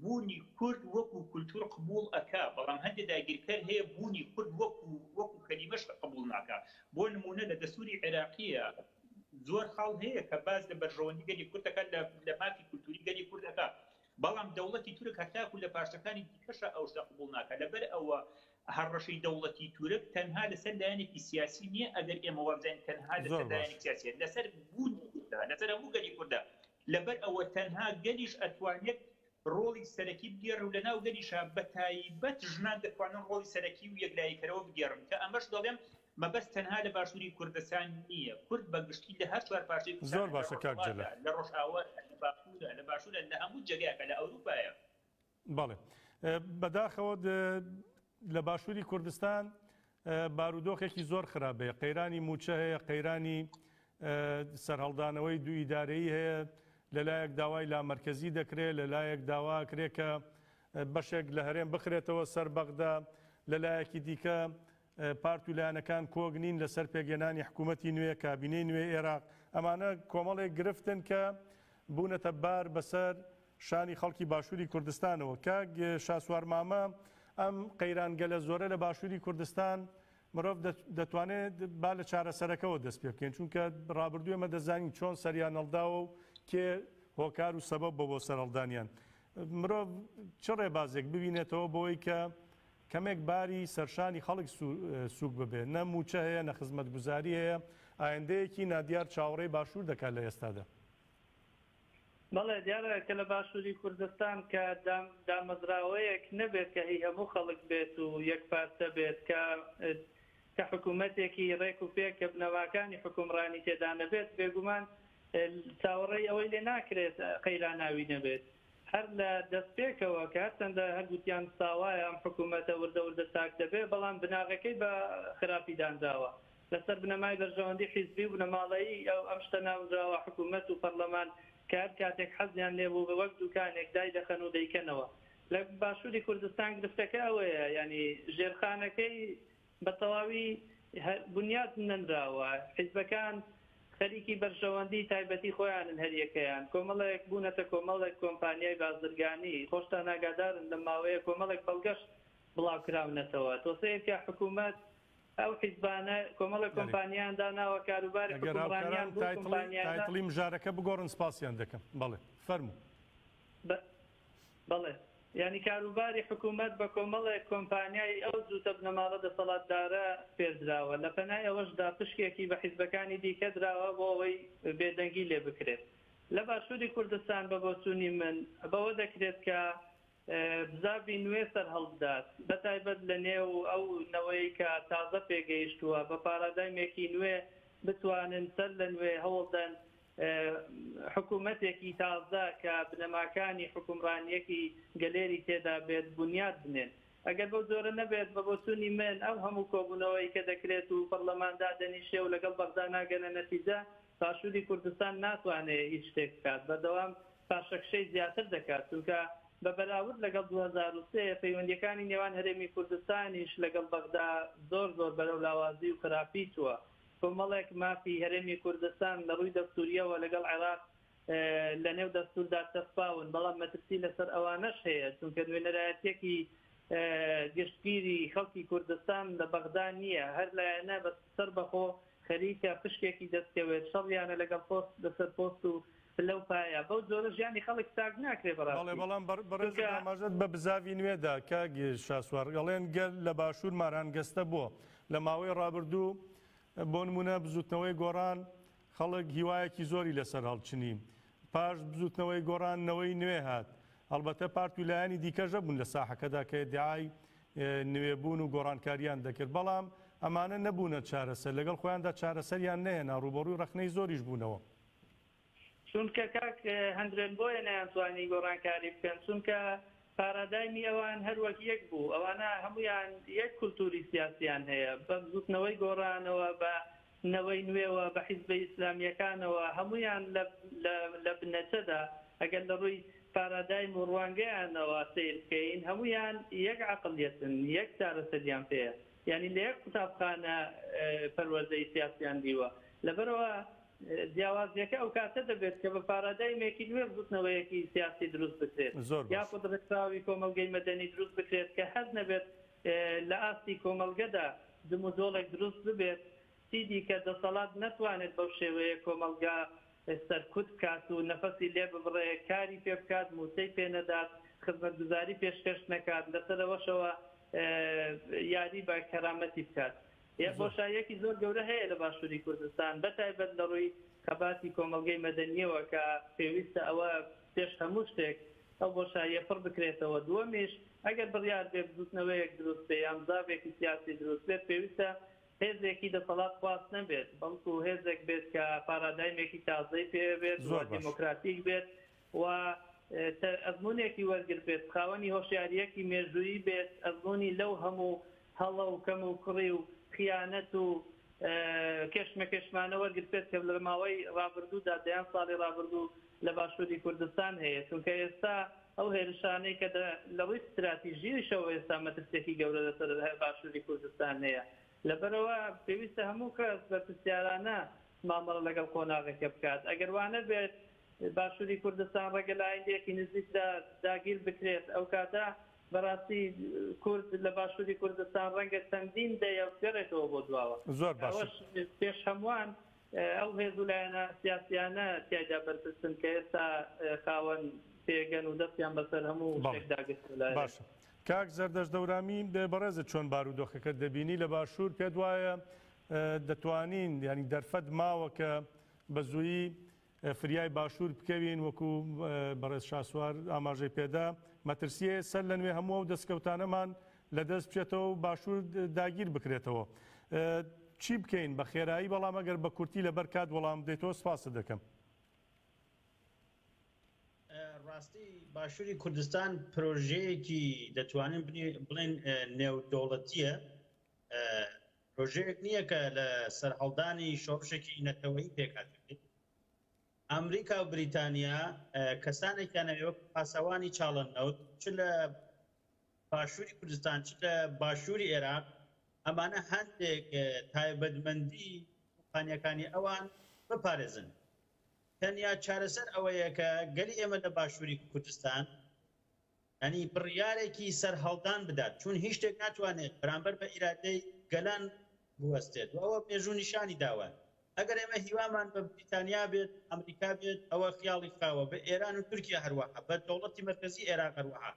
بوونی کورد وەکو کولتوور قبووڵ ئەکا، بەڵام هەندێ داگیرکەر هەیە بوونی کورد وەکو وەکو کەلیمەش قبووڵ ناکا. بۆ نموونە لە دەستووری عێراقییا زۆر خاڵ هەیە کە باس لە بەرژەوەندی گەلی کورد ئەکا لە لە مافی کولتووری گەلی کورد ئەکا. بەڵام دەوڵەتی تورک هەتاکو لە پارچەکانی دیکەشا ئەو شتە قبووڵ ناکا. لەبەر ئەوە هەڕەشەی دەوڵەتی تورک تەنها لە سەر لایەنێکی سیاسی نییە، ئەگەر ئێمە وابزانین تەنها لە سەر لایەنێکی سیاسییە. لە سەر بوونی کوردە، لە سەر هەموو گەلی کوردە. لەبەر ئەوە تەنها گەلیش ئەتوانێت ڕۆڵی سەرەکی بگێڕێ و لەناو گەلیشا بە تایبەت ژنان دەتوانن ڕۆڵی سەرەکی و یەکلاییکەرەوە بگێڕن کە ئەمەش دەڵێم مەبەست تەنها لە باشووری کوردستان نییە کورد بە گشتی لە هەر چوار پارچەی کوردستانە لە ڕۆژهەڵاتە لە ڕۆژئاوایە لە باکوورە لە باشوورە لە هەموو جێگایەکە لە ئەوروپایە. بەڵێ بەداخەوە لە باشووری کوردستان بارودۆخێکی زۆر خراپەیە قەیرانی موچە هەیە قەیرانی سەرهەڵدانەوەی دوو ئیدارەی هەیە لەلایەک داوای لا مرکزی دەکرێت لەلایەک داوا کرێکە بەشێک لە هەرێم بخرێتەوە سەر بەغدا لەلایەکی دیکە پارت و لایەنەکان کۆک نین لەسەر پێکهێنانی حکوومەتی نوێ، کابینەی نوێی ئێراق. ئەمانە کۆمەڵێک گرفتن کە بوونەتە بار بەسەر شانی خەڵکی باشووری کوردستانەوە. کاک شاسوار مامە، ئەم قەیرانگەلە زۆرە لە باشووری کوردستان، مرۆڤ دەتوانێت با لە چارەسەرەکەوە دەست پێ بکەین، چونکە ڕابردوو ئێمە دەزانین چۆن سەریان هەڵداوە و کێ هۆکار و سەبەب بووە بۆ سەرهەڵدانیان. مرۆڤ چ ڕێبازێک ببینێتەوە بۆ ئەوەی کە کەمێک باری سەرشانی خەڵک سووک ببێت، نە مووچە هەیە، نە خزمەتگوزاری هەیە، ئایندەیەکی نادیار چاوەڕێی باشوور دەکات لە ئێستادا. بەڵێ دیارە کە لە باشووری کوردستان کە دامەزراوەیەک نەبێت کە هی هەموو خەڵک بێت و یەکپارچە بێت، کە کە حکوومەتێکی ڕێک و پێک کە بنەماکانی حوکمڕانی تێدا نەبێت، بێگومان چاوەڕێی ئەوەی لێ ناکرێت قەیراناوی نەبێت. هەر لە دەستپێکەوە کە هەرچەندە هەرگوتیان ساوایە ئەم حکوومەتە وردە وردە چاک دەبێت، بەڵام بناغەکەی بە خراپی دانراوە. لەسەر بنەمای بەرژەوەندی حیزبی و بنەماڵەیی ئەم شتە ناونراوە، حکوومەت و پەڕلەمان کە هەر کاتێک حەزیان لێ بوو وەک دووکانێک دایدەخەن و دەیکەنەوە. لە باشووری کوردستان گرفتەکە ئەوەیە، یانی ژێرخانەکەی بە تەواوی بنیات نەنراوە، حیزبەکان خەریکی بەرژەوەندی تایبەتی خۆیانن هەریەکەیان، کۆمەڵێک بوونەتە کۆمەڵێک کۆمپانیای بازرگانی، خۆشتان ئاگادارن لەم ماوەیە کۆمەڵێک بەڵگەش بڵاوکراونەتەوە، تۆ سەیرکە حکومەت ئەو حیزبانە کۆمەڵێک کۆمپانیایان داناوە کاروباری حکومڕانیان بەو کۆمپانیایانە. بەڵێ یانی کاروباری حکومەت بە کۆمەڵێک کۆمپانیای ئەو جووتە بنەماڵە دەسەڵاتدارە سپێردراوە، لە پەنای ئەوەشدا پشکێکی بە حیزبەکانی دیکە دراوە بۆ ئەوەی بێدەنگی لێ بکرێت. لە باشووری کوردستان بە بۆچوونی من بەوە دەکرێت کە بزاڤی نوێ سەرهەڵبدات بە تایبەت لە نێو ئەو نەوەی کە تازە پێگەیشتووە بە پارادایمێکی نوێ بتوانن سەر لە نوێ هەوڵدەن حکومەتێکی تازە کە بنەماکانی حوکمڕانیەکی گەلێری تێدا بێت بونیاد بنێن. ئەگەر بەو جۆرە نەبێت، بە بۆچونی من ئەو هەمو کۆبونەوەی کە دەکرێت و پەڕلەمان دادەنیشێ و لەگەڵ بەغدا ناگەنە نەتیجە، باشوری کوردستان ناتوانێ هیچ شتێک بکات، بەردەوام پاشەکشەی زیاتر دەکات، چونکە بە بەراورد لەگەڵ دوو هەزار و سێ پەیوەندیەکانی نێوان هەرێمی کوردستانیش لەگەڵ بەغدا زۆر زۆر بەرەو لاوازی و خراپی چوە. کۆمەڵێک مافی هەرێمی کوردستان لە ڕووی دەستوورییەوە لەگەڵ عێراق لە نێو دەستووردا چەسپاون، بەڵام مەترسی لەسەر ئەوانەش هەیە، چونکە نوێنەرایەتییەکی گشتگیری خەڵکی کوردستان لە بەغدا نییە، هەر لایەنە بە سەربەخۆ خەریکە پشکێکی دەستکەوێت، شەڕیانە لەگەڵ پۆست لەسەر پۆست و پلە و پایە، بەو جۆرە ژیانی خەڵک چاک ناکرێت بەڕاستی، چونکە. بەڵێ، بەڵام بەڕێزت ئاماژەت بە بزاڤی نوێ دا، کاک شاسوار، ئەڵێن گەل لە باشوور مارانگەستە بۆ؟ لە ماوەی ڕابردوو بۆ نموونە بزووتنەوەی گۆڕان خەڵک هیوایەکی زۆری لەسەر هەڵچنی، پاش بزووتنەوەی گۆڕان نەوەی نوێ هات، هەڵبەتە پارت و لایەنی دیکەش هەبوون لە ساحەکەدا کە ئیدعای نوێبوون و گۆڕانکارییان دەکرد، بەڵام ئەمانە نەبوونە چارەسەر، لەگەڵ خۆیاندا چارەسەریان نەهێنا، ڕووبەڕووی ڕەخنەی زۆریش بوونەوە. چونکە کاک هەندرێن بۆیە نەیانتوانی گۆڕانکاری بکەن چونکە پارادایمی ئەوان هەر وەک یەک بوو ئەوانە هەموویان یەک کولتوری سیاسیان هەیە بە بزوتنەوەی گۆڕانەوە بە نەوەی نوێوە بە حیزبە ئیسلامیەکانەوە هەموویان لە لە بنەچەدا ئەگەر لە ڕووی پارادایم و ڕوانگەیانەوە سیر بکەین هەموویان یەک عەقڵیەتن یەک چارەسەریان پێیە یعنی لە یەک قوتابخانە پەروەردەی سیاسیان دیوە لەبەرەوە جیاوازییەکە ئەوکاتە دەبێت کە بە پارادایمێکی نوێ بزوتنەوەیەکی سیاسی دروست بکرێت یاخود ڕێکخراوی کۆمەڵگەی مەدەنی دروست بکرێت کە هەست نەبێت لە ئاستی کۆمەڵگەدا جموجۆڵێک دروست ببێت چیدیکە دەسەڵات نەتوانێت بەو شێوەیە کۆمەڵگا سەرکوت بکات و نەفەسی لێ ببڕێ کاری پێ بکات موچەی پێ نەدات خزمەتگوزاری پێشکەش نەکات لەسەرەوەشەوە یاری بە کەرامەتی بکات یەک بۆشاییەکی زۆر گەورە هەیە لە باشووری کوردستان بە تایبەت لە ڕووی خەباتی کۆمەڵگەی مەدەنییەوە کە پێویستە ئەوە پێش هەموو شتێک ئەو بۆشاییە پڕ بکرێتەوە دووەمیش ئەگەر بڕیار بێ بزووتنەوەیەک دروست بێ یان زاڤێکی سیاسی دروست بێت پێویستە هێزێکی دەسەڵات خواز نەبێت بەڵکو هێزێک بێت کە پارادایمێکی تازەی پێ بێت و دێمۆکراتیک بێت و تر ئەزموونێکی وەرگربێت، خاوەنی هۆشیارییەکی مێژوویی بێت، ئەزموونی لەو هەموو هەڵە و کەموکوڕی و خیانەت و کێشمەکێشمانە وەرگربێت کە لە ماوەی ڕابردوودا، دەیان ساڵی ڕابردوو لە باشووری کوردستان هەیە، چونکە ئێستا ئەو هێرشانەی کە لە ڕووی ستراتیژییشەوە ئێستا مەترسییەکی گەورە لەسەر باشووری کوردستان هەیە، لەبەرئەوە پێویستە هەموو کەس بەرپرسیارانە مامەڵە لەگەڵ قۆناغەکە بکات، ئەگەر وانەبێت باشوری کوردستان ڕەنگە لە ئایندەیەکی نزیکدا داگیر بکرێت ئەو کاتە بەڕاستی کورد لە باشوری کوردستان ڕەنگە چەندین دەیە بگەڕێتەوە بۆ دواوە ئەوەش پێش هەمووان ئەو هێز و لایەنە سیاسیانە تیایدا بەرپرسن کە ئێستا خاوەن پێگەن و دەستیان بەسەر هەموو داگرت باشە. کاک زەردەش دەورامی بێ بەڕێزە چۆن بارودۆخەکە دەبینی لە باشوور پێت وایە دەتوانین ینی دەرفەت ماوە کە بە زوویی فریای باشوور بکەوین، وەکو بەڕێز شاسوار ئاماژەی پێدا، مەترسییە سەر لەنوێ هەموو ئەو دەستکەوتانەمان لەدەست بچێتەوە و باشوور داگیر بکرێتەوە. چی بکەین؟ بە خێرایی بەڵام ئەگەر بە کورتی لەبەر کات وەڵامم بدەیتەوە سپاست دەکەم. ڕاستی باشووری کوردستان پرۆژەیەکی دەتوانین بڵێین نێودەوڵەتییە، پرۆژەیەک نییە کە لە سەرهەڵدانی شۆڕشێکی نەتەوەیی پێکهاتبێت. ئامریکا و بریتانیا کەسانێکیان ئەوێ وەکو پاسەوانی چاڵە نەوت چ لە باشووری کوردستان چ لە باشووری ئێراق ئەمانە هەندێک تایبەتمەندی قانیەکانی ئەوان بپارێزن. تەنیا چارەسەر ئەوەیە کە گەلی ئێمە لە باشووری کوردستان یانی بڕیارێکی سەرهەڵدان بدات، چون هیچ شتێک ناتوانێت بەرامبەر بە ئیرادەی گەلان بوەستێت و ئەوە مێژوو نیشانی داوە. ئەگەر ئێمە هیوامان بە بریتانیا بێت، ئەمریکا بێت، ئەوە خیاڵی خاوە، بە ئێران و تورکیا هەروەها، بە دەوڵەتی مەرکەزی ئێراق هەروەها.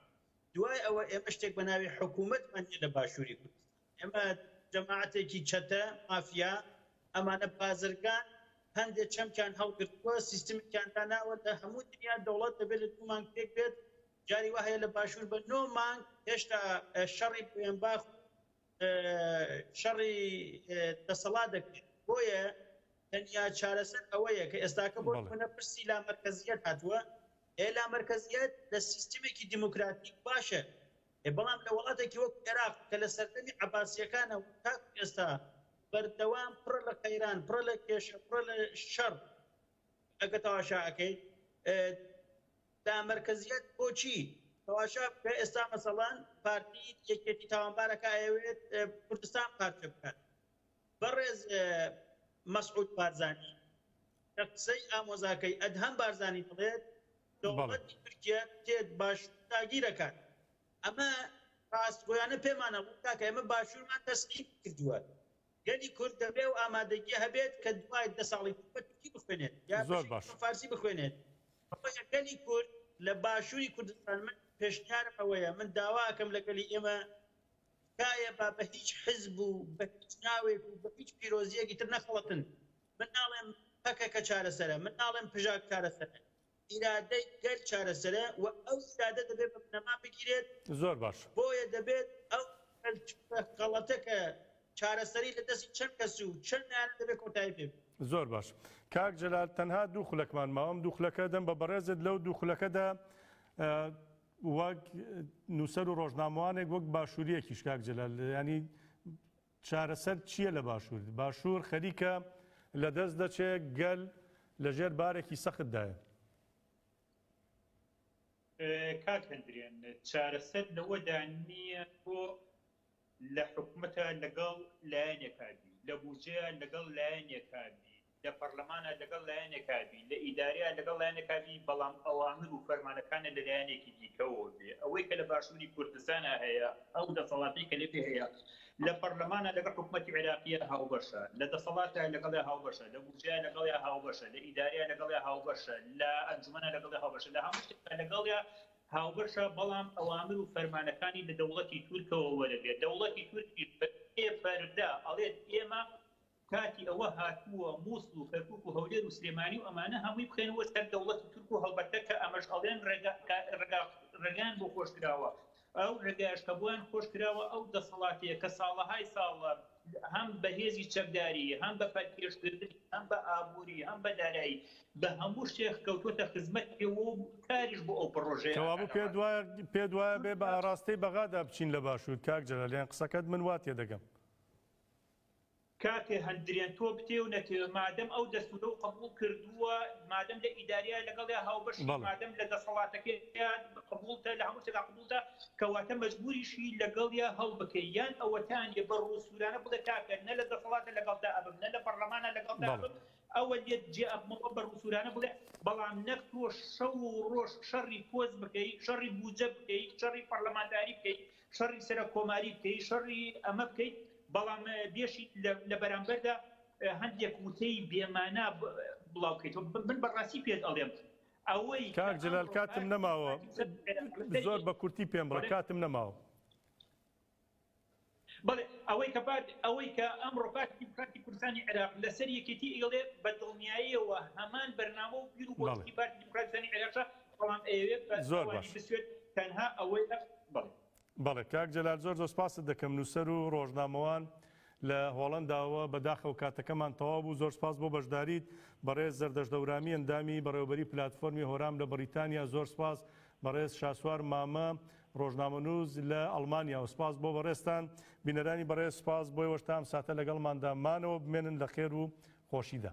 دوای ئەوە ئێمە شتێک بە ناوی حکوومەتمان نیە لە باشووری کوردستان. ئێمە جەماعەتێکی چەتە مافیا ئەمانە بازرگان هەندێ چەمکیان هەڵگرتووە سیستمێکیان داناوە لە هەموو دنیا دەوڵەت دەبێت لە دوو مانگ پێک بێت جاری وا هەیە لە باشوور بە نۆ مانگ هێشتا شەڕی بوێنباخ و شەڕی دەسەڵات دەکرێت بۆیە تەنیا چارەسەر ئەوەیە کە ئێستاکە بۆ بەڵێ نمونە پرسی لامەرکەزیەت هاتووە ئێ لامەرکەزیەت لە سیستمێکی دیموکراتیک باشە بەڵام لە وڵاتێکی وەک عێراق کە لە سەردەمی عەباسییەکانەوە تاکو ئێستا بەردەوام پڕە لە قەیران، پڕە لە کێشە، پڕە لە شەڕ ئەگەر تەواشا ئەکەیت لامەرکەزیەت بۆچی تەواشا بکە ئێستا مەسەڵان پارتی یەکێتی تاوانبارەکە ئەیەوێت کوردستان پارچە بکات بەڕێز مەسعود بارزانی لە قسەی ئامۆزاکەی ئەدهەم بارزانی دەڵێت دەوڵەتی تورکیە دێت باشور داگیر ئەکات ئەمە ڕاستگۆیانە پێمان ئەڵێت کاکە ئێمە باشورمان تەسلیم کردووە گەلی کورد دەبێ ئەو ئامادەگیە هەبێت کە دوای دە ساڵی تر بە تورکی بخوێنێت یا بە فارسی بخوێنێت بۆیە گەلی کورد لە باشوری کوردستان من پێشنیارم ئەوەیە من داوا ئەکەم لە گەلی ئێمە تکایە با بە هیچ حزب و بە هیچ ناوێک و بە هیچ پیرۆزیەکی تر نەخەڵەتن من ناڵێم پەکەکە چارەسەرە، من ناڵێم پژاک چارەسەرە، ئیرادەی گەل چارەسەرە و ئەو ئیرادە دەبێت بە بنەما بگیرێت، بۆیە دەبێت ئەو کەلتوورە غەڵەتە کە چارەسەری لە دەستی چەند کەس و چەند لایەنە دەبێت کۆتایی پێ بێت. زۆر باش. کاک جەلال تەنها دوو خولەکمان ماوە، ئەم دوو خولەکە ئەدەم بە بەڕێزت، لەو دوو خولەکەدا وەک نووسەر و ڕۆژنامەوانێک، وەک باشوورییەکیش کاک جەلال یانی چارەسەر چییە لە باشوور؟ باشوور خەریکە لە دەست دەچێ، گەل لە ژێر بارێکی سەخت دایە. کاک هەلدرێن چارەسەر لەوەدا نییە تۆ لە حکومەتا لەگەڵ لایەنێکا بی، لە بوجەیا لەگەڵ لایەنێکا بی، لە پەڕلەمانا لەگەڵ لایەنێکا بی، لە ئیدارەیا لەگەڵ لایەنێکا بی، بەڵام ئەوامر و فەرمانەکانە لە لایەنێکی دیکەوە بێ. ئەوەی کە لە باشووری کوردستانا هەیە، ئەو دەسەڵاتەی کە لەوێ هەیە، لە پەڕلەمانا لەگەڵ حکومەتی عێراقیا هاوبەشە، لە دەسەڵاتا لەگەڵیا هاوبەشە، لە بودجەیا لەگەڵیا هاوبەشە، لە ئیدارەیا لەگەڵیا هاوبەشە، لە ئەنجومەنا لەگەڵیا هاوبەشە، لە هەموو شتێکا لەگەڵیا هاوبەشە، بەڵام ئەوامر و فەرمانەکانی لە دەوڵەتی تورکەوە وەرەگرێ. دەوڵەتی تورکیش بە پێ پەردە ئەڵێت ئێمە کاتی ئەوە هاتووە موسڵ و کەرکوک و هەولێر و سلێمانی و ئەمانە هەمووی بخەینەوە سەر دەوڵەتی تورک و هەڵبەتە کە ئەمەش ئەڵێن ڕێگا ڕێگایان بۆ خۆش کراوە ئەو ڕێگایش کە بۆیان خۆش کراوە ئەو دەسەڵاتەیە کە ساڵەهای ساڵە هەم بە هێزی چەکداری هەم بە پەلکێشکردن هەم بە ئابووری هەم بە دارایی بە هەموو شتێک کەوتوتە خزمەت پێوە و کاریش بۆ ئەو پڕۆژەیە کەوابوو پێت وایە پێت وایە بێ بە ئاراستەی بەغادا بچین لە باشوور کاک جەلال یان قسەکەت من وا تێدەگەم. کاکە هەند درێن تۆ بتێ و نەتێ مادەم ئەو دەستورەو قبوڵ کردووە مادەم لە ئیدارەیە لەگەڵیا هاوبەشی مادەم لە دەسەڵاتەکەیا قبوڵتە لە هەموو شتێکا قبوڵتە کەواتە مەجبوریشی لەگەڵیا هەڵبکەی یان ئەوەتانیە بە ڕوو سورانە بڵێ کاکە نە لە دەسەڵاتە لەگەڵتا ئەبم نە لە پەڕلەمانە لەگەڵتا ئەبم ئەوە لێت جێ ئەبمەوە بە ڕوو سورانە بڵێ بەڵام نەک تۆ شەو و ڕۆژ شەڕی پۆست بکەی شەڕی بوجە بکەی شەڕی پەڕلەمانتاری بکەی شەڕی سەرەککۆماری بکەیت، شەڕی ئەمە بکەیت، بەڵام بێشیت لە بەرامبەردا هەندێک وتەی بێمانا بڵاوکەیتەوە. من بەڕاستی پێت ئەڵێم ئەوەی. کاک جەلال کاتم نەماوە، زۆر بە کورتی پێم بڵێ، کاتم نەماوە. بەڵێ، ئەوەی کە پارتی، ئەوەی کە ئەمڕۆ پارتی دیموکراتی کوردستانی عێراق لەسەر یەکێتی ئەیڵێ، بە دڵنیاییەوە هەمان بەرنامە و بیر و بۆچوونی پارتی دیموکراتی کوردستانی عێراقە، بەڵام ئەیەوێت بە زۆر ئەوانی باش بسوێت تەنها ئەوەی ئەخ بەڵێ. بەڵێ کاک جەلال زۆر زۆر سپاست دەکەم نوسەر و ڕۆژنامەوان لە هۆڵەندا وە بەداخەوە کاتەکەمان تەواو بوو زۆر سپاس بۆ بەشداریت بەڕێز زەردەشت هەورامی ئەندامی بەڕێوەبەری پلاتفۆرمی هۆرام لە بەڕیتانیا زۆر سپاس بەڕێز شاسوار مامە ڕۆژنامەنوس لە ئەڵمانیا و سپاس بۆ بەڕێزتان بینەرانی بەڕێز سپاس بۆ ئێوەش تا ئەم ساتە لەگەڵماندا مانەوە بمێنن لە خێر و خۆشیدا.